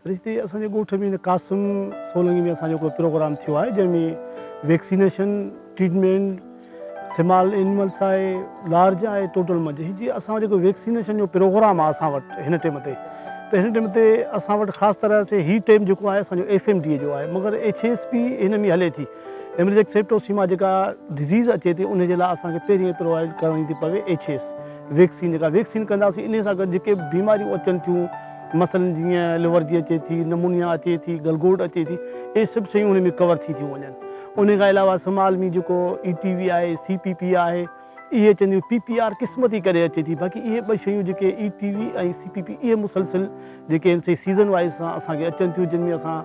سرشتي اسان جي ڳوٺ ۾ قاسم سولنگي ۾ اسان جو ڪو پروگرام ٿيو آهي جنهن ۾ ويڪسينيشن ٽريٽمينٽ سمال اينملس آهي لارج آهي ٽوٽل منجهه جي اسان جيڪو ويڪسينيشن جو پروگرام آهي اسان وٽ هن ٽيم تي ته هن ٽيم تي اسان وٽ خاص طرح سي هي ٽيم جيڪو آهي اسان جو ايف ايم ڊي جو آهي مگر ايڇ ايس پي هن ۾ هلي ٿي ايمرجيڪ سيپٽوسيما جيڪا ڊزيز اچي ٿي ان جي لاء اسان کي پهرين پرووائڊ ڪرڻي ٿي پوي ايڇ ايس ويڪسين جيڪا ويڪسين ڪنداسين ان سان گڏ جيڪي بيماريون اچن ٿيون مثلاً جيئن الورجي اچي ٿي، نمونيا اچي ٿي، گلگوٽ اچي ٿي، اهي سڀ شيون ان ۾ ڪور ٿي ٿيون وڃن. ان کان علاوه اسم عالمي جيڪو اي ٽي وي آهي، سي پي پي آهي، اهي اچن ٿيون، پي پي آر قسمت جي ڪري اچي ٿي، باقي اهي ٻه شيون جيڪي A T V ۽ C P P اهي مسلسل جيڪي آهن سي سيزن وائيز سان اسان کي اچن ٿيون جن ۾ اسان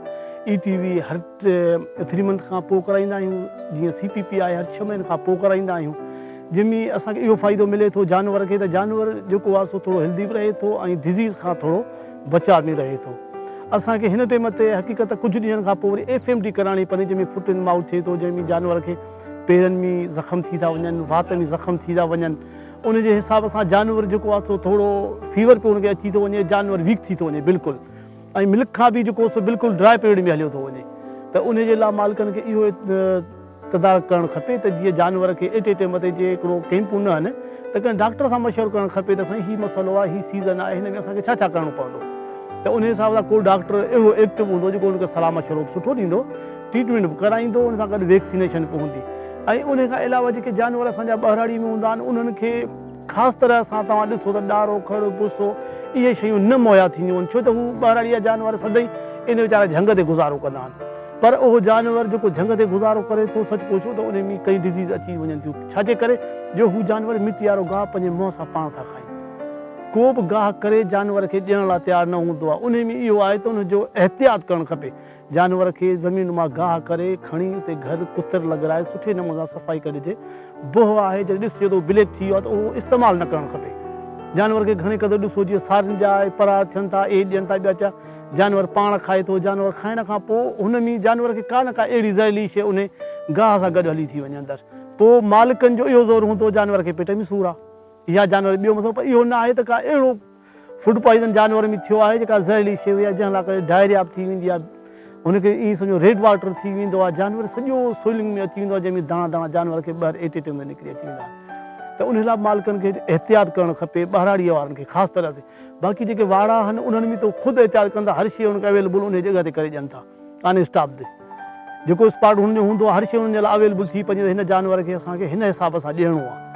اي ٽي وي هر ٿري منٿ کان پوء ڪرائيندا آهيون جيئن سي پي پي آء هر ڇهه مهينن کان پوء ڪرائيندا آهيون جنهن ۾ اسان کي اهو فائدو ملي ٿو جانور کي ته جانور جيڪو آهي سو ٿورو هيلڌي به رهي ٿو ۽ ڊزيز کان ٿورو بچاء ۾ رهي ٿو اسان کي هن ٽيم تي حقيقت ڪجهه ڏينهن کان پوء وري ايف ايم ڊي ڪرائڻي پوندي جنهن ۾ فوٽ اينڊ مائوٿ ٿئي ٿو جنهن ۾ جانور کي پيرن ۾ زخم ٿي ٿا وڃن وات ۾ زخم ٿي ٿا وڃن ان جي حساب سان جانور جيڪو آهي سو ٿورو فيور پيو ان کي اچي ٿو وڃي جانور ويڪ ٿي ٿو وڃي بلڪل ۽ ملڪ کان به جيڪو سو بلڪل ڊرائي پيريڊ ۾ هليو ٿو وڃي ته انهي جي لاء مالڪن کي اهو تدارڪ ڪرڻ کپي ته جيئن جانور کي ايٽي ٽيم تي جي هڪڙو ڪيمپون نه هن ته ڪنهن ڊاڪٽر سان مشورو ڪرڻ کپي ته سائين هي مسئلو آهي هي سيزن آهي هن ۾ اسان کي ڇا ڇا ڪرڻو پوندو ته انهي حساب سان ڪو ڊاڪٽر اهڙو ايڪٽو هوندو جيڪو ان کي صلاح مشورو به سٺو ڏيندو ٽريٽمينٽ به ڪرائيندو ان سان گڏ ويڪسينيشن به هوندي ۽ انهي کان علاوه جيڪي جانور اسان جا ٻهراڙي ۾ هوندا آهن انهن کي خاص طرح سان توهان ڏسو ته ڏارو، کڙ، پسو اهي شيون نه مهيا ٿينديون آهن ڇو ته هو ٻهراڙيا جانور سدائين ان ويچارا جهنگ تي گذارو ڪندا آهن پر اهو جانور جيڪو جهنگ تي گذارو ڪري ٿو سچ پڇو ته ان ۾ ڪئين ڊزيز اچي وڃن ٿيون ڇاجي ڪري جو هو جانور مٽي وارو گاهه پنهنجي منهن سان پاڻ ٿا کائين ڪو به گاهه ڪري جانور کي ڏيڻ لاء تيار نه هوندو آهي ان ۾ اهو آهي ته ان جو احتياط ڪرڻ کپي جانور کي زمين مان گاهه ڪري کڻي اتي گهر ڪتر لڳرائي سٺي نموني سان صفائي ڪري ڏجي. بوهه آهي جڏهن ڏسجي ته اهو بليڪ ٿي ويو آهي ته اهو استعمال نه ڪرڻ کپي. جانور کي گهڻي قدر ڏسو جيئن سارين جا اهي پرا ٿين ٿا اهي ڏين ٿا ٻيا چا جانور پاڻ کائي ٿو جانور کائڻ کان پوء هن ۾ جانور کي ڪا نه ڪا اهڙي زهريلي شيء انهي گاهه سان گڏ هلي ٿي وڃي اندر پوء مالڪن جو اهو زور هوندو جانور کي پيٽ ۾ سور آهي يا جانور ٻيو مسئلو پر اهو نه آهي ته ڪا اهڙو فوڊ پوائزن جانورن ۾ ٿيو آهي جيڪا زهريلي شيء هئي جنهن لاء ڪري ڊائريا به ٿي ويندي آهي هن کي ائين سمجهو ريڊ واٽر ٿي ويندو آهي جانور سڄو سوئلنگ ۾ اچي ويندو آهي جنهن ۾ داڻا داڻا جانور کي ٻاهر ايٽي ٽيم ۾ نڪري اچي ويندا آهن ته ان لاء مالڪن کي احتياط ڪرڻ کپي ٻهراڙي وارن کي خاص طرح سان باقي جيڪي واڙا آهن انهن ۾ ته خود احتياط ڪن ٿا هر شيء ان کي اويليبل ان جي جڳهه تي ڪري ڏين ٿا ڪانهي اسٽاف تي جيڪو اسپاٽ هن جو هوندو آهي هر شيء هن جي لاء اويلبل ٿي پوي هن جانور کي اسان کي هن حساب سان ڏيڻو آهي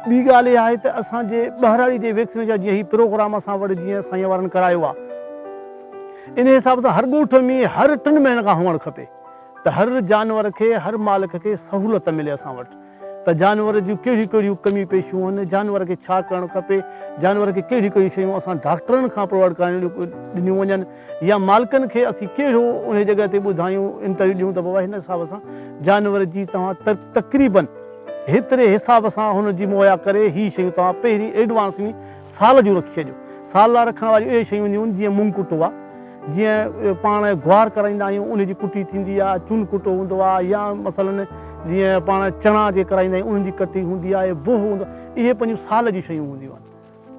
ٻي ڳالهه اها آهي ته اسان جي ٻهراڙي جي ويڪسين جا جيئن هي پروگرام اسان وٽ جيئن سائين وارن ڪرايو آهي ان حساب سان هر ڳوٺ ۾ هر ٽن مهينن کان هئڻ کپي ته هر جانور کي هر مالڪ کي سهولت ملي اسان وٽ. ته جانور جون ڪهڙيون ڪهڙيون ڪميون پيشيون آهن، جانور کي ڇا ڪرڻ کپي، جانور کي ڪهڙيون ڪهڙيون شيون اسان ڊاڪٽرن کان پرووائيڊ ڪرائڻيون ڏنيون وڃن يا مالڪن کي اسين ڪهڙو انهي جڳهه تي ٻڌايون انٽرويو ڏيون ته بابا هن حساب سان جانور جي توهان تقريبن هيتري حساب سان هن جي مهيا ڪري هي شيون توهان پهرين ايڊوانس ۾ سال جون رکي ڇڏيو. سال لاء رکڻ واريون اهي شيون هونديون آهن جيئن مونگ ڪٽو آ، جيئن پاڻ گوار ڪرائيندا آهيون ان جي ڪٽي ٿيندي آ، چن ڪٽو هوندو آ يا مثلاً جيئن پاڻ چڻا جي ڪرائيندا آهيون انهن جي ڪٽي هوندي آ، بوهه هوندو آ، اهي پنهنجون سال جون شيون هونديون آهن.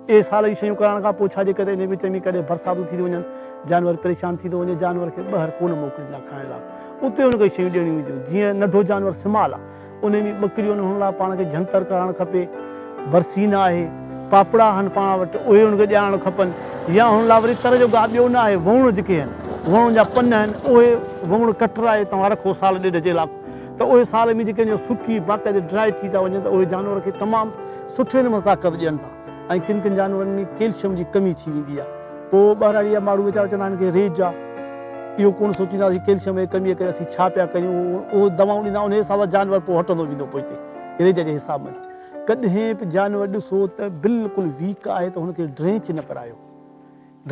اهي سال جون شيون ڪرائڻ کان پوء ڇا جي ڪري ان جي وچ ۾ ڪڏهن برساتون ٿي ٿيون وڃن، جانور پريشان ٿي ٿو وڃي، جانور کي ٻاهر ڪونه موڪليندا کائڻ لاء، اتي ان کي شيون ڏيڻيون هونديون آهن، جيئن ننڍو جانور سمال آ. انهن جي ٻڪريون آهن، انهن لاء پاڻ کي جهنتر ڪرائڻ کپي. برسي نه آهي، پاپڙا آهن پاڻ وٽ، اهي انهن کي ڏيارڻ کپن يا انهن لاء وري تر جو گاهه ٻيو نه آهي، وهوڻ جيڪي آهن، وهوڻ جا پن آهن، اهي وهوڻ ڪٽرائي توهان رکو سال ڏيڍ جي لاء ته اهي سال ۾ جيڪي آهن سڪي باقاعدي ڊرائي ٿي ٿا وڃن ته اهي جانور کي تمام سٺي نموني طاقت ڏين ٿا ۽ ڪن ڪن جانورن ۾ ڪيلشم جي ڪمي ٿي ويندي آهي. پوء ٻهراڙيء جا ماڻهو ويچارا چوندا آهن ڪي ريت جا اهو ڪونه سوچيندا آهن ته ڪيلشم جي ڪميء ڪري اسين ڇا پيا ڪريون اهي دوائون ڏيندا انهيء حساب سان جانور پوء هٽندو ويندو پوئتي ريت جي حساب ۾ ڪڏهن به جانور ڏسو ته بلڪل ويڪ آهي ته هن کي ڊرينچ نه ڪرايو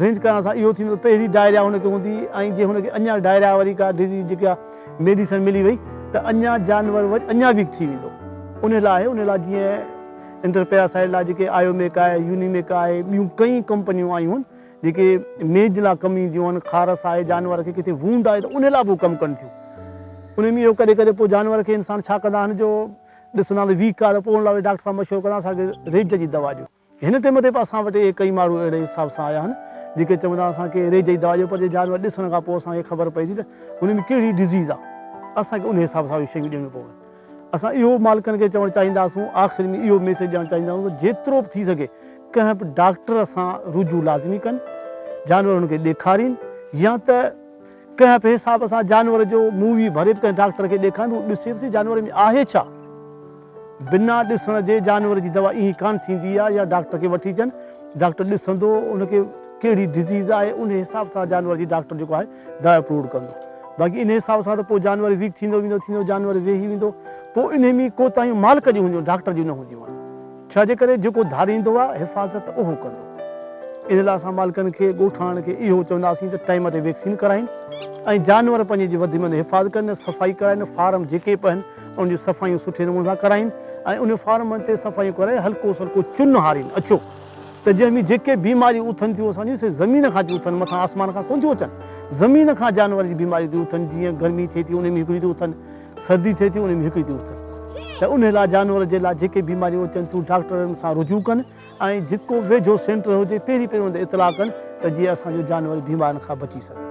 ڊرينچ ڪرائڻ سان اهو ٿيندو ته پهرين ڊائريا هن کي هوندي ۽ جي هن کي اڃا ڊائريا واري ڪا ڊزيز جيڪا ميڊيسن ملي وئي ته اڃا جانور اڃا ويڪ ٿي ويندو انهيء لاء انهيء لاء جيئن انٽر پيراسائيڊ لاء جيڪي آيوميڪ آهي، يونيميڪ آهي، ٻيون ڪئين ڪمپنيون آيون آهن جيڪي ميج لاء ڪم اينديون آهن، خارس آهي، جانور کي ڪٿي وونڊ آهي ته ان لاء به هو ڪم ڪن ٿيون. انهي ۾ اهو ڪڏهن ڪڏهن پوء جانور کي انسان ڇا ڪندا آهن جو ڏسندا ته ويڪ آهي ته پوء ان لاء وري ڊاڪٽر سان مشورو ڪندا اسان کي ريج جي دوا ڏيو. هن ٽيم تي به اسان وٽ اهي ڪئين ماڻهو اهڙي حساب سان آيا آهن جيڪي چوندا اسان کي ريج جي دوا ڏيو پر جي جانور ڏسڻ کان پوء اسان کي خبر پئي ٿي ته ان ۾ ڪهڙي ڊزيز آهي اسان کي ان حساب سان اهي شيون ڏيڻيون پون. اسان اهو مالڪن کي چوڻ چاهينداسون آخر ۾ اهو ميسيج ڏيڻ چاهينداسون ته جيترو به ٿي سگهي ڪنهن به ڊاڪٽر سان رجوع لازمي ڪن جانور انهن کي ڏيکارين يا ته ڪنهن به حساب سان جانور جو مووي ڀري به ڪنهن ڊاڪٽر کي ڏيکارين ته هو ڏسي ته سهي جانور ۾ آهي ڇا بنا ڏسڻ جي جانور جي دوا ايئن ڪانه ٿيندي آهي يا ڊاڪٽر کي وٺي اچن ڊاڪٽر ڏسندو ان کي ڪهڙي ڊزيز آهي ان حساب سان جانور جي ڊاڪٽر جيڪو آهي ڊاء اپروڊ ڪندو باقي انهي حساب سان ته پوء جانور ويڪ ٿيندو ويندو ٿيندو جانور ويهي ويندو پوء انهي ۾ ڪوتاهيون مالڪ جون هونديون ڊاڪٽر جون نه هونديون آهن ڇا جي ڪري جيڪو ڌاريندو آهي حفاظت اهو ڪندو ان لاء اسان مالڪن کي ڳوٺاڻن کي اهو چونداسين ته ٽائيم تي ويڪسين ڪرائين ۽ جانور پنهنجي جي وڌ ۾ وڌ حفاظت ڪن صفائي ڪرائين فارم جيڪي به آهن ان جون صفائيون سٺي نموني سان ڪرائين ۽ ان فارمن تي صفائيون ڪرائي هلڪو سلڪو چن هارين اڇو ته جنهن ۾ جيڪي بيماريون اٿن ٿيون اسان جون سي زمين کان ٿيون اٿن مٿان آسمان کان ڪونه ٿيون اچن زمين کان جانورن جي بيماريون ٿيون اٿن جيئن گرمي ٿئي ٿي ان ۾ هڪڙيون ٿيون اٿن سردي ٿئي ٿي ان ۾ هڪڙيون ٿيون اٿن ته ان لاء جانور جي لاء جيڪي بيماريون اچن ٿيون ڊاڪٽرن سان رجوع ڪن ۽ جتڪو ويجهو سينٽر هجي پهرين پهرين ان تي اطلاع ڪن ته جيئن اسان جو جانور بيمارين کان بچي سگهن.